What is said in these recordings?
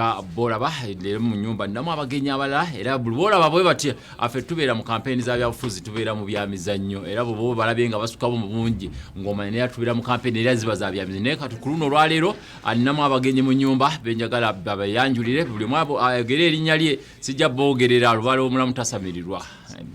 Ah, bolaba leero mu nyumba ninamu abagenyi abalala era bolaba bwe batya affe tubeera mu kampeyini za byabufuzi tubeera mu byamizannyo era bwebo balabye nga basukamu mu bungi ng'omanya naye tubeera mu kampeyini era ziba za byamizannyo naye kati ku luno olwaleero aninamu ah, abagenyi mu nyumba benjagala babayanjulire buli mwabo ayogere erinnya lye sijja boogerera lubala omulamu tasamirirwa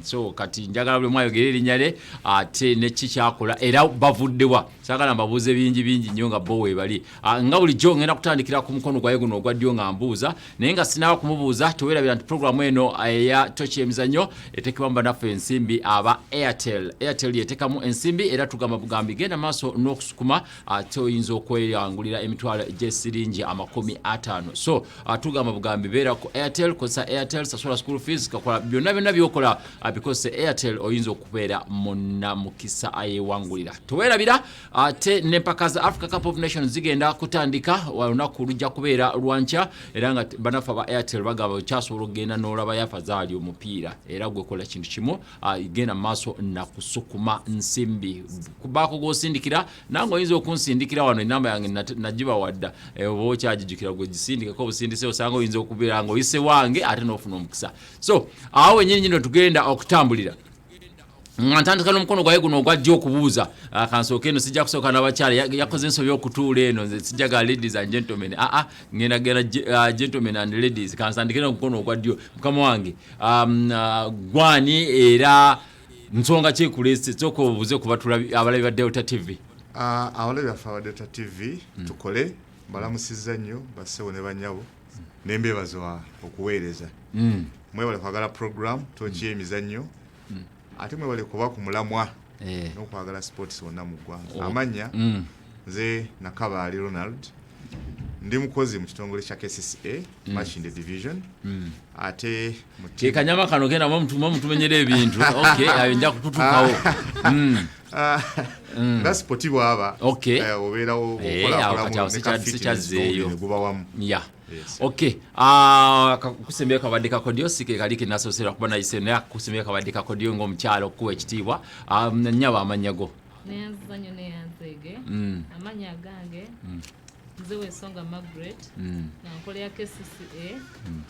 so kati njagala buli mwayogera erinnya lye ate nekki kyakola era bavuddewa sagala mbabuuze bingi bingi nnyo nga bo webali Ah, nga bulijjo ngenda kutandikira ku mukono gwaye guno ogwa ddyo nga mbuuza naye nga sinaaba kumubuuza tewerabira nti programu eno eh, eya toki emizannyo eteekebwa mu banaffe ensimbi aba airtel airtel yeteekamu ensimbi era tugamba bugambi genda maaso n'okusukuma ate ah, oyinza okweyangulira emitwalo gyesiringi amakumi ataano so ah, tugamba bugambi beera ku airtel kozesa airtel sasula school fees kakola byonna byonna byokola bikozese airtel oyinza okubeera munamukisa ayewangulira tewerabira ate nempaka za africa cup of nations zigenda kutandika olunaku lujja kubeera lwankya era nga banafa ba airtel bagamba kyasobola okugenda n'olaba yafa zaali omupiira era gwekola kintu kimu ah, genda maaso nakusukuma nsimbi kubaako gwosindikira nange oyinza okunsindikira wano enamba yange nagibawadda eh, oba okyagijukira gwegisindikeko obusindise osanga oyinza okubeera nga oyise wange ate n'ofuna omukisa so awo wenyini nyini otugenda okutambulira nga ntandika n'omukono gwaye guno ogwajja okubuuza ah, kansooka eno sijja kusooka n'abakyala yakoze ensobi okutuula eno nze sijja ga ladies and gentlemen aa ah, ah, ngenda genda uh, gentlemen and ladies kansandike n'omukono ogwa ddyo mukama wange um, uh, gwani era nsonga kyekulese sooka obuuze ku batula abalabi ba delta tv uh, abalabi baffe aba delta tv mm. tukole balamusizza nnyo bassebo ne banyabo nembeebazwa okuweereza mm. mwebale kwagala program tokiyemizannyo mm. mm. ate mwebale kuba ku mulamwa eh. n'okwagala sports wonna mu ggwanga oh. amanya mm. nze nakabaali ronald ndi mukozi mu kitongole kya kcca mm. machine the division mm. ate kekanyama kano kena mutumenyera ebintu ayo nja kututukawo ah. mm. ah. mm. nga sipoti bwaba eh, obeerawo eh, okulakulakulamugubawamu Yes. Okay. Ah, uh, kusembya kabadde kakodyo sike kali kinasosera kuba nayise naye kusembya kabadde kakodyo ng'omukyalo okuwa ekitiibwa um, nyaba amanya go neyanzizanyo neyanzege mm. amanya gange mm. nze wesonga margaret mm. nankola ya kcca mm.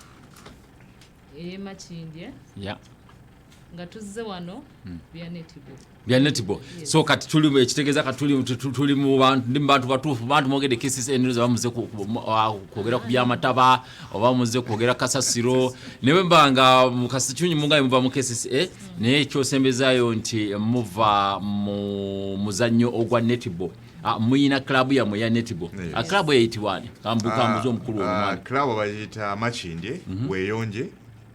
eyemakindye yeah. nga tuzze wano hmm. bya netball bya netball yes. so kati tuli ekitegeeza kati tuli tuli mu bantu ndi bantu batuufu bantu mwogede kisisi enero zaba muze kwogera ku byamataba oba muze kwogera kasasiro naye mbanga mukasikyunyi mungaye muva mu kisisi eh? Hmm. naye ekyosembezayo nti muva mu muzannyo ogwa netball Ah, muyina club ya moya netibo yes. Ah, club ya itiwani kambuka ah, muzo mkulu wa mwani club wa jita machindi mm -hmm. weyonje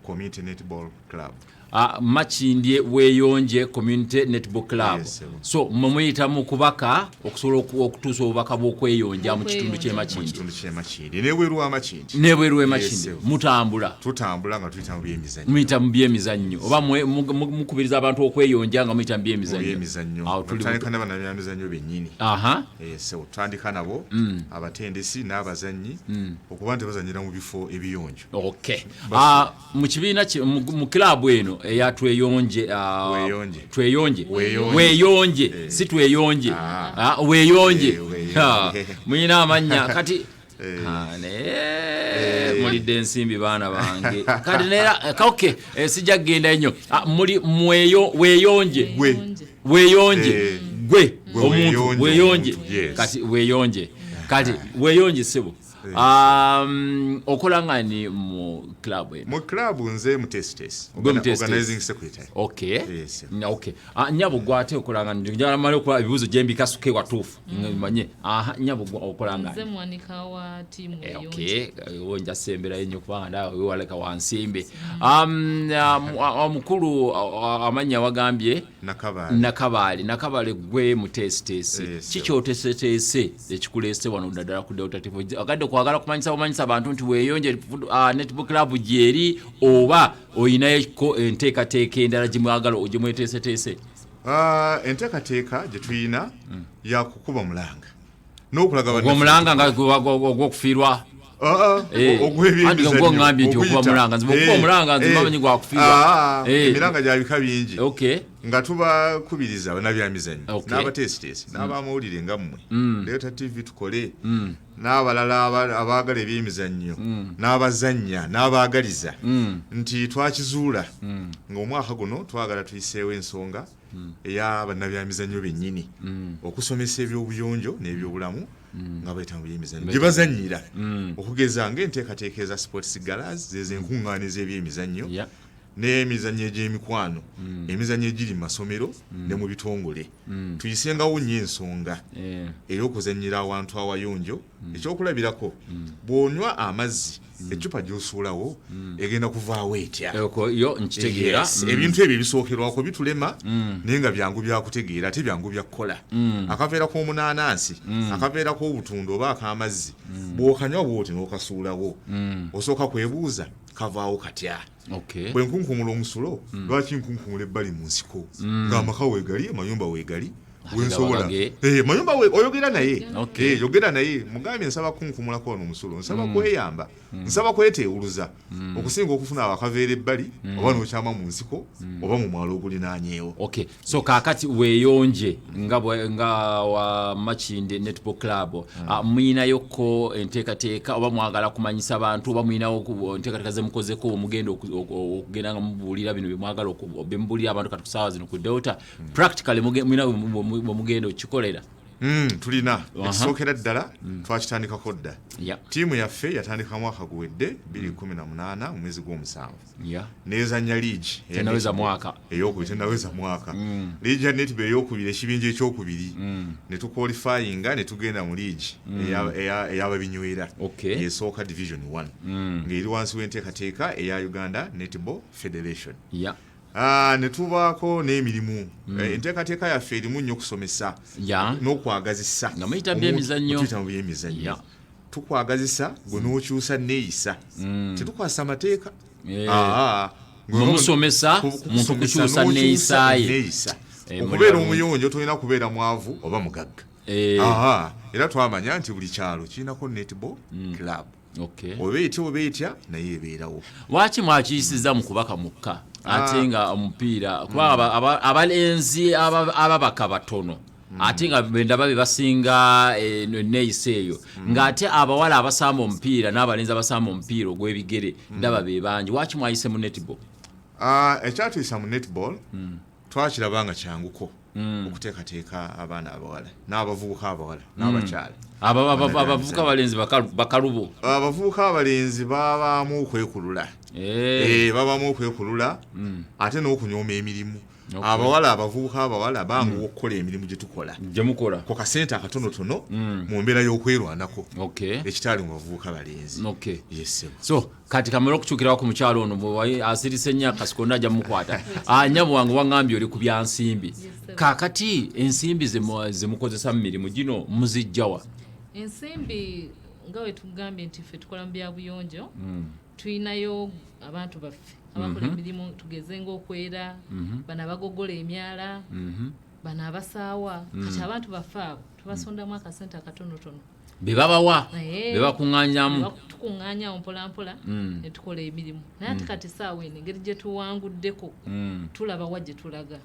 Community Netball Club. Uh, ah, Makindye Weyonje Community Netball Club. Yes, so mumuyita mu kubaka okusobola okutuusa obubaka bw'okweyonja mu kitundu ky'e Makindye. N'ebweru wa Makindye. N'ebweru wa Makindye. Yes, mutambula. Tutambula nga tuyita mu byemizannyo. Muyita mu byemizannyo. Oba mukubiriza abantu okweyonja nga muyita mu byemizannyo. Byemizannyo. Awo tuli tutandika nabo na byemizannyo bennyini. Aha. Eh, so tutandika nabo mm. abatendesi n'abazannyi mm. okuba nti bazannyira mu bifo ebiyonjo. Okay. Uh, mu kibiina mu club eno eya tweyonje uh, tweyonje weyonje eh. si tweyonje ah. uh, weyonje eh, ah, muyina amanya kati eh. ah, naye mulidde ensimbi baana bange kati nera okay, sijja kugenda nnyo muli mweyo weyonje weyonje gwe omuntu weyonje kati weyonje kati weyonje sebo Um, okola ngani mu club eno? Mu club nze mu test test. Organizing secretary. Okay. Yes. Na okay. Ah, nyabo gwa ate okola ngani? Njala mali okola bibuzo jembi kasuke wa tufu. Mm. Manye. Aha, nyabo gwa okola ngani? Nze mwanika wa timu eh, yonje. Okay. Eh, Uwe nja sembera yenye kupanga nda uwe waleka wa nsimbe. Mm. Um, uh, mkulu uh, amanya wagambie. Okay. nakabaale nakabaale gwe muteesiteesi eh, ki kyoteseteese ekikuleese wano ddadala ku delta tv agadde kwagala kumanyisa bumanyisa bantu nti weeyonje ah, netbook club gyeri oba oyinayoko enteekateeka endala gyemwagala ogyemweteeseteese ah, enteekateeka gyetulina hmm. yakukuba omulanga n'okulaga omulanga nga ogw'okufiirwa ogw'ebyemizannyogw'oŋambye nti okuba mulanga nzima okuba omulanga nzima eh, eh, manyi gwakufiirwa ah, eh. emiranga gya bika bingi nga tubakubiriza banabyamizannyo n'abateesiteesi mm. n'abamawulire nga mmwe mm. leeta tv tukole mm. n'abalala abaagala ebyemizannyo n'abazannya n'abaagaliza nti twakizuula ng'omwaka guno twagala tuyiseewo ensonga mm. eya bannabyamizannyo bennyini mm. okusomesa ebyobuyonjo n'ebyobulamu mm. nga bayita mu byemizannyo gye bazannyira okugeza ng'enteekateeka eza sports galas zezo enkuŋŋaana ez'ebyemizannyo n'emizannyo egy'emikwano emizannyo egiri mu masomero ne mu bitongole tuyisengawo nnyo ensonga eh. ey'okuzannyira awantu awayonjo mm. ekyokulabirako mm. bw'onywa amazzi mm. eccupa gy'osuulawo mm. egenda kuvaawo etya yo nkitegeera yes. mm. ebintu ebyo ebisookerwako bitulema mm. naye nga byangu byakutegeera ate byangu byakukola mm. akaveera k'omunaanansi mm. akaveera k'obutunda oba ak'amazzi mm. bw'okanywa bwoti n'okasuulawo mm. osooka kwebuuza kavaawo katya okay. bwe nkunkumula omusulo mm. lwaki nkunkumula ebbali mu nsiko mm. ng'amaka weegali amayumba weegali wensobola eh, mayumba oyogera naye eh, yogera naye mugambye nsaba kunkumulako wano omusulo nsaba mm. kweyamba mm. nsaba kweteewuluza mm. okusinga okufuna abakaveera ebbali oba nokyama mu nsiko oba mu mwalo ogulinanyeewo so kakati weyonje nga nga wa machinde netball club mm. uh, ah, mwina yoko enteka teka oba mwagala kumanyisa bantu oba mwina yoko enteka teka zemukoze ko omugendo okugenda nga mubulira bino bimwagala okubembulira abantu kati kusawa zino ku delta mm. practically mwina omugendo kikolera Mm, tulina ekisookera ddala mm. twakitandikako dda tiimu yaffe yatandika mwaka guwedde 218 mm. mu mwezi gw'omusanvu yeah. nezanya liigi tenaweza mwaka eyokubiri tenaweza mwaka mm. liigi ya netba eyokubiri ekibinja ekyokubiri mm. netukwalifayinga netugenda mu liigi mm. eyababinywera okay. esooka division one mm. ngaeri wansi w'enteekateeka eya uganda netball federation yeah. Ah, netubaako n'emirimu mm. eh, enteekateeka yaffe erimu nnyo okusomesa yeah. n'okwagazisa nga muyita byemizannyo byemizannyo yeah. tukwagazisa gwe n'okyusa neeyisa mm. tetukwasa amateeka musomesa muntu kukyusa neeyisa ye eh, okubeera omuyonjo tolina kubeera mwavu oba mugagga eh. era twamanya nti buli kyalo kirinako netball mm. club oba etya oba etya naye ebeerawo lwaki mwakiyisiza mu kubaka mukka ate ah. nga omupiira kuba mm. abalenzi ababaka batono Mm. ate nga bendaba bebasinga eh, eneyisa eyo mm. ngaate abawala abasamba omupiira n'abalenzi abasamba omupiira ogw'ebigere mm. ndaba bebangi waki mwayise mu netball ah, ekyatuyisa mu netball twakiraba nga kyanguko okuteekateeka abaana abawala n'abavubuka abawala n'abakyala abavubuka abalenzi bakalubo ah, abavubuka abalenzi babaamu okwekulula eh. Eh, babaamu okwekulula ate n'okunyooma emirimu abawala abavubuka abawala bangu mm. okukola emirimu gye tukola gyemukola ku kasente akatonotono mm. mu mbeera y'okwerwanako ekitaali mu bavubuka balenzi so kati kamera okukyukirawo ku mukyalo ono asirise nnyo akasikonda ajja mukwata anyabo ah, wange wangambye oli ku byansimbi kakati ensimbi zemukozesa mu mirimu gino muzijjawa ensimbi nga wetugambye nti ffe tukola mu byabuyonjo mm. tulinayo abantu baffe abakola mhm. emirimu tugeze ngaokwera mhm. bano abagogola emyala mhm. bano abasaawa kati mm. abantu baffe abo tubasondamu akasente akatonotono bebabawa bebakuŋanyamu tukuŋanyawo mpolampola mm. netukola emirimu naye ati mm. kati saawa eno engeri gyetuwanguddeko tulabawa gyetulaga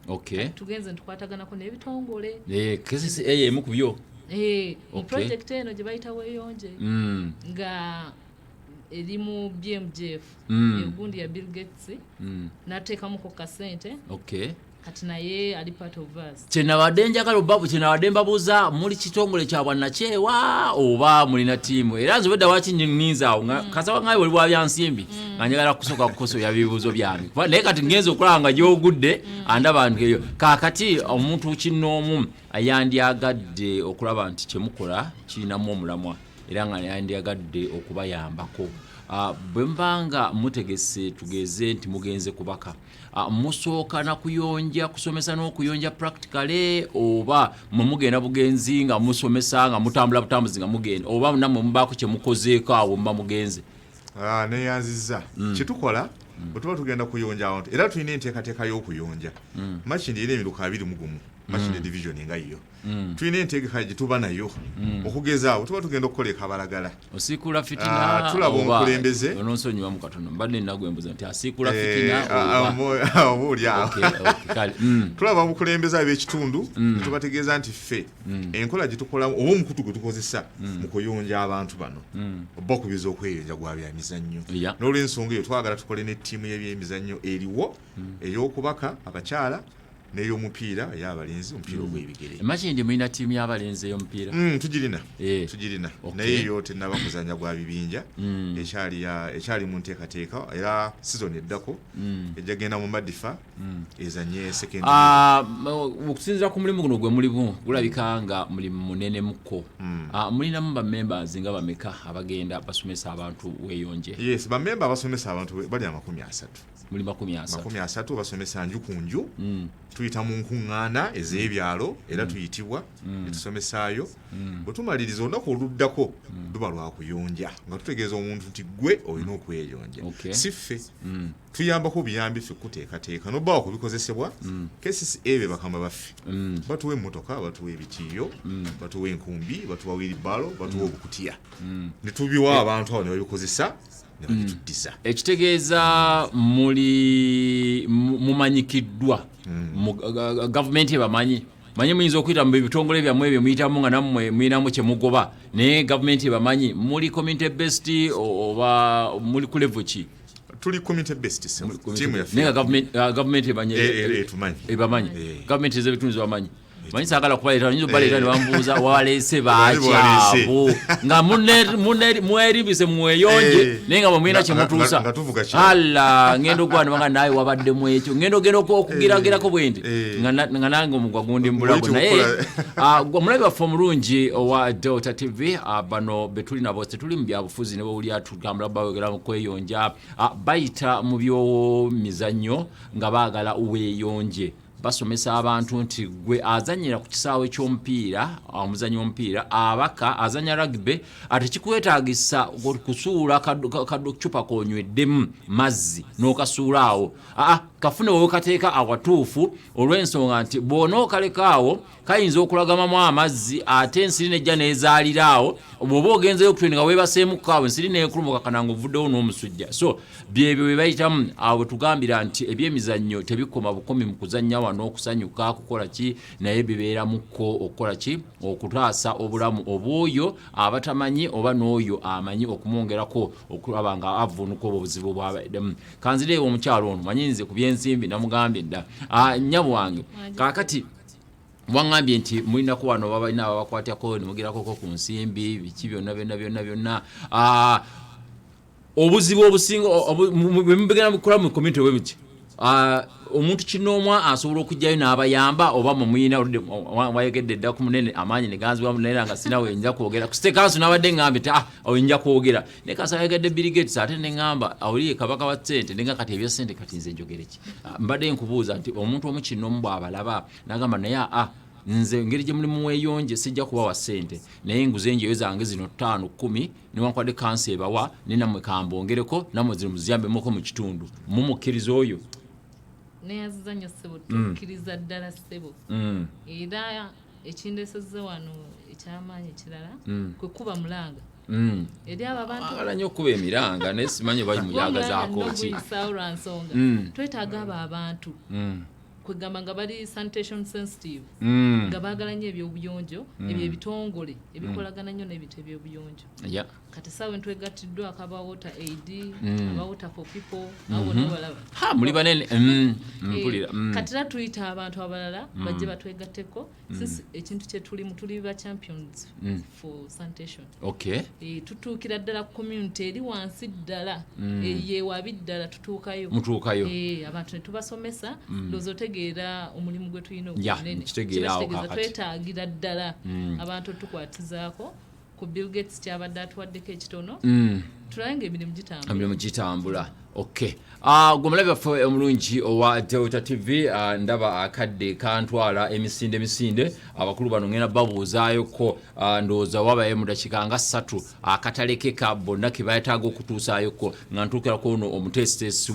tugenze nitukwataganako nebitongole eh, eh, emu kubyo eh, mu projekiti eno gyebayita weyonje nga eri mu bmgf mm. egundi ya bill gates mm. nateekamuko kasente okay kati naye ali part of us kyenabadde njagala obabu kyenabadde mbabuuza muli kitongole kya bwannakyewa oba mulina tiimu era nze obedda waki ninza awo mm. kasaba ngayo wali wabyansimbi mm. nga njagala kusooka kukosoya bibuuzo byange naye kati ngenza okulaba nga gyogudde mm. andaba nti eyo kakati omuntu kinnoomu yandyagadde okulaba nti kyemukola kirinamu omulamwa era nga yandyagadde okubayambako ah, bwe mba nga mutegese tugeeze nti mugenze kubaka ah, musooka na kuyonja kusomesa n'okuyonja practicale oba mwe mugenda bugenzi nga musomesa nga mutambula butambuzi nga mugenda oba namwe mubaako kye mukozeeko awo muba mugenze ah, neyanziza mm. kyetukola mm. bwetuba tugenda kuyonja abantu era tulina enteekateeka y'okuyonja mm. makindi era emiruka abiri mugumu makindi division nga yiyo mm. tulina entegeka gyetuba nayo mm. okugeza awo tuba tugenda okukola ekabalagala osiikula fitina ah, tulaba omukulembeze ononsonyiwa mu katono mbadde nagwe mbuza nti asiikula eh, fitina obaolyawo mm. tulaba omukulembeze ab'ekitundu tubategeeza nti ffe enkola gyetukolamu oba omukutu gwe tukozesa mu kuyunja abantu bano oba okubiza okweyunja gwa byamizannyo n'olwensonga eyo twagala tukole n'ettiimu y'ebyemizannyo eriwo ey'okubaka abakyala neyomupiira eyabalenzi omupiira mm. ogwebigere imagine mulina tiimu yabalenzi eyomupiira mm, tugirina eh. tugirina naye yo tenaba muzanya gwa bibinja mm. ekyali mu nteekateeka era sizoni eddako ejja genda mu madifa ezanye sekendi ah, okusinzira ku mulimu guno gwe mulimu gulabika nga mulimu munene muko ah, mulinamu bamembers nga bameka abagenda basomesa abantu weyonje yes bamemba abasomesa abantu bali amakumi asatu muli makumi asatu makumi asatu basomesa nju ku nju mm. tuyita mu nkuŋŋaana ez'ebyalo mm. era mm. tuyitibwa mm. netusomesaayo mm. bwe tumaliriza olunaku oluddako mm. luba lwa kuyonja nga tutegeeza omuntu nti gwe olina mm. okweyonja okay. si ffe mm. tuyambako buyambi ffe kuteekateeka nobawa ku bikozesebwa mm. kcca be bakama baffe mm. batuwa emmotoka batuwa ebitiiyo mm. batuwa enkumbi batuwa wilibalo batuwa mm. obukutiya mm. ne tubiwa abantu abo ne babikozesa ne bagituddiza mm. ekitegeeza muli mumanyikiddwa mm. gavumenti ebamanyi manyi muyinza okuyita mu bitongole byammwe ebyo muyitamu nga nammwe muyinamu kye mugoba naye gavumenti ebamanyi muli community best oba muli ku levo ki tuli community based team ya naye government uh, government ebanye eh, eh, eh, etumanyi ebamanyi government eze bitunzi bamanyi manyi sagala kubaleeta nyinza okubaleeta nebambuuza waleese bakyabu nga mwerimbise mweyonje eh. naye nga bwemulina kyemutuusa alla ngenda okwanibanga naye wabaddemu ekyo ngenda ogenda okugiragirako eh. bwendi eh. nga nange omugwa gundi mubulago naye ah, omulabi waffe omulungi owa delta tv ah, bano betuli nabo tetuli mu byabufuzi nebawulira tugambula bawegera mu kweyonja ah, bayita mu byomizannyo nga baagala weyonje basomesa abantu nti gwe azanyira ku kisaawe ky'omupiira omuzanyi w'omupiira abaka azanya rugby ate kikwetagisa kusuula kacupa konyweddemu mazzi n'okasuula awo aa kafune wewekateeka awatuufu olw'ensonga nti bwona okaleka awo kayinza okulagamamu amazzi ate ensiri nejja nezaalira awo bwoba ogenzeyo okutwe nga webaseemuko awo ensiri nekulumuka kana nga ovuddewo n'omusujja so byebyo byebayitamu awo bwetugambira nti ebyemizannyo tebikoma bukomi mu kuzannya wano okusanyuka kukola ki naye bibeeramukko okukola ki okutaasa obulamu obwoyo abatamanyi oba n'oyo amanyi okumwongerako okulaba nga avunuka obwo obuzibu bwabaddemu kanzireewo omukyalo ono manyinze ku byensimbi namugambye dda ah, nnyabo wange kaakati wangambye nti mulinako wano babalina ababakwatako nemugerakoko ku nsimbi biki byonna byonna byonna byonna ah, obuzibu obusinga bwemubigenda mukola mu community bwe buti ah, omuntu kinoomwa asobola okujjayo n'abayamba oba mumuyina oludde wayogedde dda ku munene amaanyi neganziwa munene nga sina wenja kwogera kusite kanso nabadde ngamba ti ah oyinja kwogera naye kanso ayogedde birigates ate neŋamba awuliye kabaka wa sente nenga kati ebya sente kati nze njogereki Ah, mbadde nkubuuza nti omuntu omu kinomu bwabalaba nagamba naye a ah, nze ngeri gye mulimu weyonje sijja kubawa sente naye enguze enjeyo zange zino ttaano kumi newankubadde kansi ebawa ne namwe kambongereko namwe zino muziyambemuko mu kitundu mumukkiriza oyo neyaziza nyo sebo mm. tukkiriza ddala sebo mm. era ekindesezza wano ekyamaanyi ekirala mm. kwe kuba mulanga Mm. eri abo abantu bagala nnyo okukuba emiranga naye simanyi oba muyagazaako ki lwansonga mm. twetaaga abo abantu mm. kwegamba nga bali sanitation sensitive nga baagala nnyo ebyobuyonjo ebyo ebitongole ebikolagana nnyo n'ebintu ebyobuyonjo kati saawe ntwegattiddwako aba water aid aba water for people mm-hmm. muli banene eh, mpulira kati era tuyita abantu abalala bajje batwegatteko mm. Mm. since ekintu kyetulimu tuli ba champions mm. for sanitation okay e, tutuukira ddala ku community eri wansi ddala mm. eyewabi ddala tutuukayo mutuukayo e, abantu netubasomesa mm. ndoozi otegeera omulimu gwe tulina ogwonene twetaagira ddala mm. abantu otukwatizaako ku bill gates kyabadde atuwaddeko ekitono mm. tulabe nga emirimu gitambulaemirimu gitambula ok ah, gwe mulabi waffe omulungi owa delta tv ah, ndaba akadde kantwala emisinde emisinde abakulu bano ngenda babuuzaayoko ah, ndowooza wabaye mudakika nga ssatu akatalekeka bonna kebayetaaga okutuusaayoko nga ntuukira kwono omuteesiteesi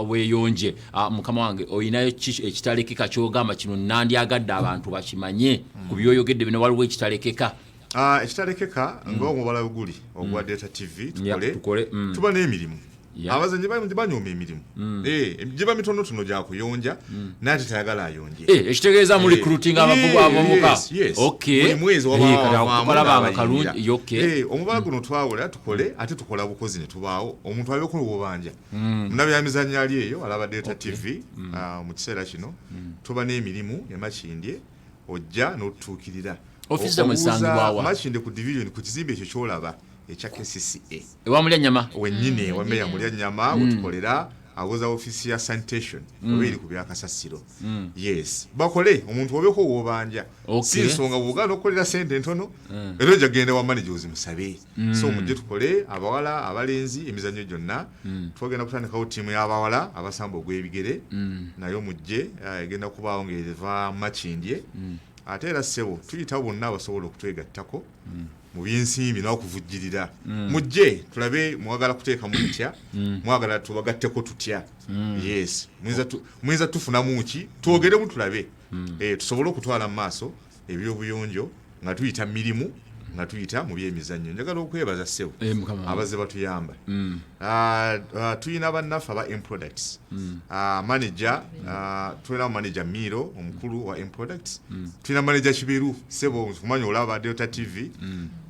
weyonje mukama wange olinayo ekitalekeka kyogamba kino nandyagadde abantu bakimanye ku byoyogedde bino waliwo ekitalekeka Ah, ekitalekeka mm. ngaomubala oguli ogwa mm. data tv tukole mm. tuba n'emirimu abazanyi banyooma emirimu eh, giba mitonotono gyakuyonja naye tetayagala ayonje eh, ekitegeeza mu eh, recruiting abavubu abomuka omubala guno twawula tukole ate tukola bukozi netubaawo omuntu alabeko obubanja munabyamizanyo ali eyo alaba data tv ah, mu kiseera kino tuba n'emirimu emakindye ojja n'otutuukirira office zamwe zisangibwa wa makinde ku division ku kizimbe ekyo kyolaba ekya KCCA ewa mulya nyama wenyine mm. wameya mulya nyama mm. utukolera awoza office ya sanitation mm. obeeri ku bya kasasiro mm. yes bakole omuntu obeko wobanja okay. si nsonga bugano okolera sente ntono mm. era ojagenda wa manager ozimusabe mm. so mujje tukole abawala abalenzi emizannyo gyonna mm. twagenda kutandikawo tiimu y'abawala abasamba ogw'ebigere mm. nayo mujje uh, egenda kubaawo ngaeva makindye mm. ate era ssebo tuyitawo bonna abasobola okutwegattako mm. mu byensimbi n'okuvujjirira mm. mujje tulabe mwagala kuteekamu mutya mm. mwagala tubagatteko tutya mm. yes muyinza tufunamu ki twogeremu tulabe mm. eh, tusobole okutwala mu maaso ebyobuyonjo nga tuyita mirimu nga tuyita mu byemizannyo njagala okwebaza ssebo eh, abazze batuyamba mm. ah, ah, tulina bannaffe aba mproducts mm. ah, manaja tulinawo manaja miiro omukulu wa mproducts mm. tulina manaja kiberu ssebo kumanya olaba delta tv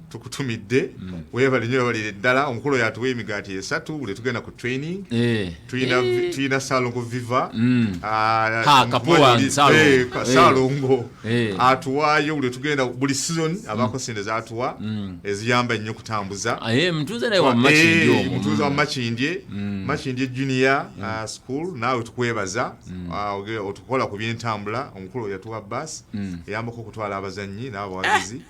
tukutumidde mm. webale nyo webalire ddala omukulu oyo atuwa emigaati esatu buli tugenda ku training eh. tulina eh. salongo viva mm. ah, eh, salongo atuwaayo buli tugenda buli season abako mm. sente zatuwa eziyamba nnyo okutambuza ah, mutuuza wa makindye makindye junior ah, school naawe tukwebaza otukola ku byentambula omukulu oyo yatuwa bus eyambako okutwala abazannyi n'abawagizi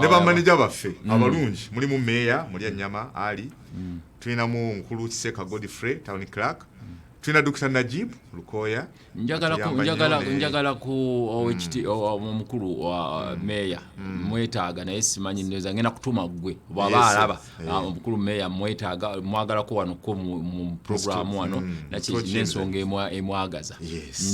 ne bamaneja baffe mm. abalungi mulimu meeya muli anyama ali mm. tulinamu mukulu kiseka godfrey town clark mm. tulina dr najib lukoya njagala ku omukulu oh, oh, wa uh, meeya mwetaaga naye simanyi neza ngenda kutuma gwe bwaba alaba eh. ah, omukulu meeya mwetaaga mwagalako wano ko mu programu wano nensonga emwagaza yes.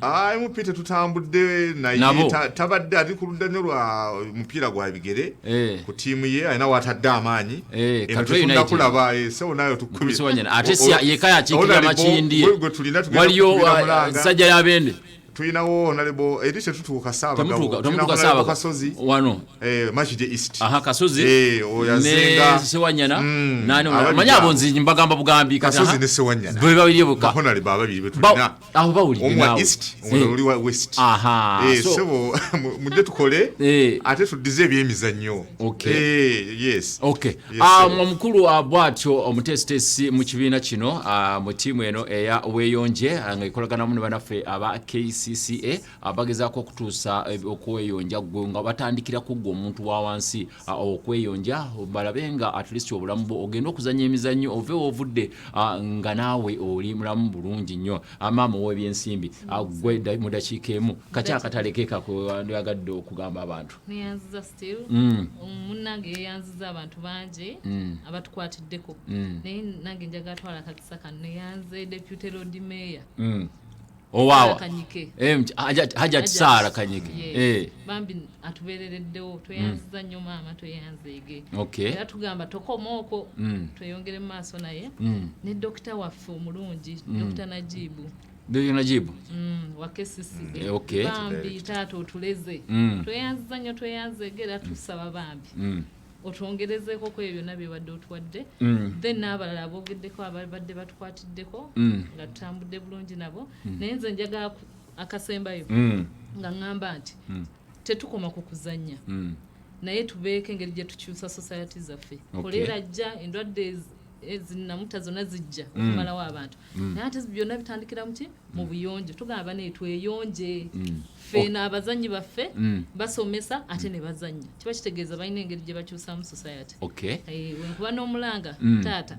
Ah, mp tetutambudde naye tabadde ali ku ludda nyo lwa mupiira gwa bigere eh. ku tiimu ye alina watadde amaanyi eh, emutunda kulaba eh, sewo nayo tukubiwaliyosajja yabende tulinawo onalebo eri tetutuuka saabagawokasozi wano makide east kasozi ne sewanyana mm. manya abo nzi mbagamba bugambi kasozi ne sewanyana bebabiri boka awo bawulidde omwa naawe. east Eh, omulala oli wa west Aha, Eh, so- sebo mu- mujje tukole Eh. ate tuddize ebyemizannyo Okay. Eh, yes Okay. Yes, Ah, sebo. omukulu wa bwatyo omuteesiteesi mu kibiina kino ah, mu ttiimu eno eya weeyonje ah, ng'ekolaganamu ne banaffe aba kcca abagezaako okutuusa eh, okweyonja gwe nga batandikira kuggwa omuntu wa wansi ah, okweyonja balabe nga at least obulamu bwo ogenda okuzanya emizannyo ove wovudde ah, nga naawe oli mulamu bulungi nnyo ah, maama ow'ebyensimbi gwe mu dakiika emu kaki akatale ke kakwandiyagadde okugamba abantu mm. munnange yeyanziza abantu bangi mm. abatukwatiddeko mm. naye nange njagala twala kakisa kano neyanze deputy lord mayor owawa kanyike Eh, mky- Hajat- hajat sara kanyike Yes. Eh, bambi atuberereddewo tweyanziza nnyo maama tweyanzeege okay era tugamba tokoma okwo Mm. tweyongere mu maaso naye Mm. ne dokita waffe omulungi dokita najibu Ndio najibu Mm, wa KCCA. Eh, okay. bambi taata otuleze Mm. tweyanziza nnyo tweyanzeege era tusaba bambi Mm. otwongerezeeko ku ebyo byonna byebadde otuwadde mm. then n'abalala aboogeddeko ababadde batukwatiddeko mm. nga tutambudde bulungi nabo mm. naye nze njagala akasembayo nga ŋŋamba nti tetukoma ku kuzannya naye tubeeko engeri gye tukyusa society zaffe kolera jja endwadde ezinamuta eh, zonna zijja mm. okumalawo abantu mm. naye ate byonna bitandikira muki mu mm. buyonjo tugamba banaye tweyonje ffe n'abazannyi baffe basomesa ate ne bazannya kiba kitegeeza balina engeri gye bakyusamu society eh, wenkuba n'omulanga taata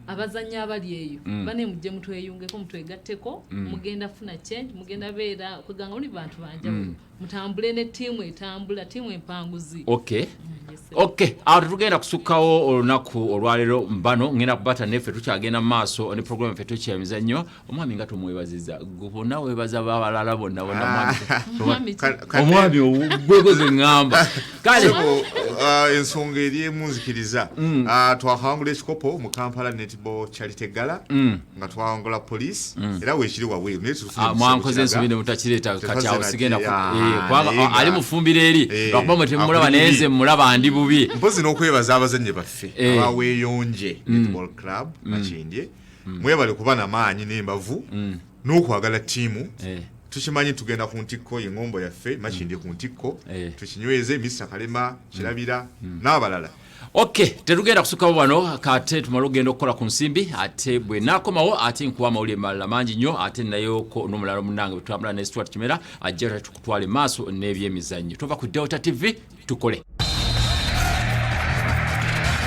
abazannyi abali eyo bane mujje mutweyungeko mutwegatteko mugenda funa change mugenda beera kweganga muli bantu banjawulo mutambule ne tiimu etambula tiimu empanguzi okay ok awo tetugenda kusukkawo olunaku olwaleero mbano ngenda kubata neffe tukyagenda mumaaso ne programu ffe tukyamiza nnyo omwami nga tumwebaziza bona webaza babalala bonna bonaomwami ah. ogwegoze ŋŋamba kale ah, ensonga eri emunzikiriza mm. ah, twakawangula ekikopo mu kampala netball charity gala mm. nga twawangula police mm. era wekiri wabweru naye ah, mwankoze ensobi ne mutakireeta katyawo sigenda eh, kubanga ah, ali mufumbiro eri eh, lwakuba mwe temumulaba naye nze mmulaba ndi bubi mpozi n'okwebaza abazannyi baffe eh. abaweeyonje mm. netball club mm. makindye mwebale kuba na maanyi n'embavu n'okwagala ttiimu tukimanyi tugenda ku ntikko engombo yaffe makindye ku ntikko tukinyweze misa kalema kirabira n'abalala Okay, tetugenda kusukawo wano kate tumala okugenda okukola ku nsimbi ate bwe nakomawo ate nkuwa amawulire malala mangi nnyo ate nayoko n'omulala munange bwetwambula ne stuart kimera ajja tatukutwale maaso n'ebyemizannyo tova ku delta tv tukole